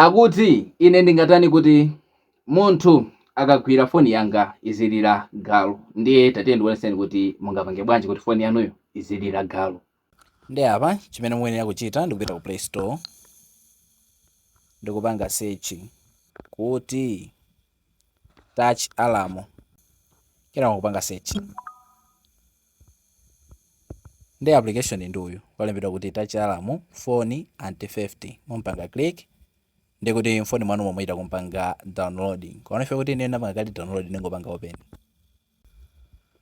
Akuti, Ine ndingatani kuti munthu akagwira foni yanga izilira galu, ndiye tatiyeni ndikuonetseni kuti mungapange bwanji kuti foni yanuyo izilira galu. Ndiye apa chimene muyenera kuchita ndikupita ku play store ndikupanga search kuti. touch alarm kenako kupanga search ndi application ndi uyu walembedwa kuti touch alarm phone anti theft mumpanga click ndi kuti mfoni mwanumo muchita kumpanga download komano ife poti ine ndapanga kale download ndingopanga open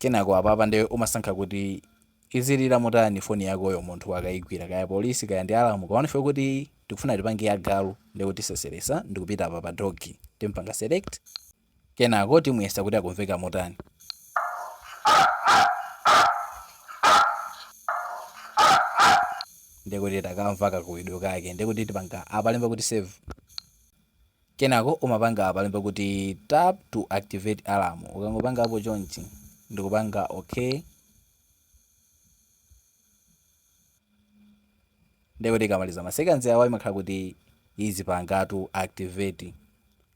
Kenako apapa nde umasankha kuti izilira motani foni yakoyo munthu akaigwira, kaya police kaya ndi alamu, komano ife poti tikufuna tipange ya galu ndekuti tiseseresa ndikupita apa pa dog timpanga select kenako timuyesa kuti akumveka motani. ndekuti takamva kakuwidwe kake ndekuti tipanga apalemba kuti save. Kenako umapanga apalemba kuti tap to activate alarm ukangopanga apo chonchi ndikupanga ok ndekuti ikamaliza ma seconds awa imakhala kuti izipangatu activate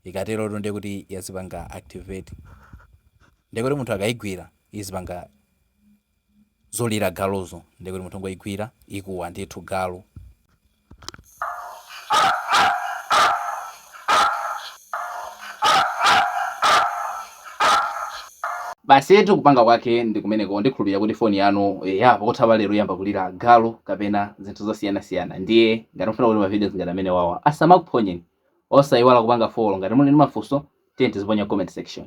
ikaterotu ndekuti yazipanga activate ndekuti munthu akaigwira izipanga Zolira galuzo ndiye kuti munthu ongoigwira ikuwa ndithu galu. Basitu kupanga kwake ndi kumeneko ndikhulupirira kuti foni yanu yapo kutha pa lero iyamba kulira galu kapena zinthu zosiyanasiyana ndiye ngati mufuna kuti mavidios ngati amenewawa asamakuphonyeni osaiwala kupanga follow ngati muli ndi mafunso tiyeni tiziponya comment section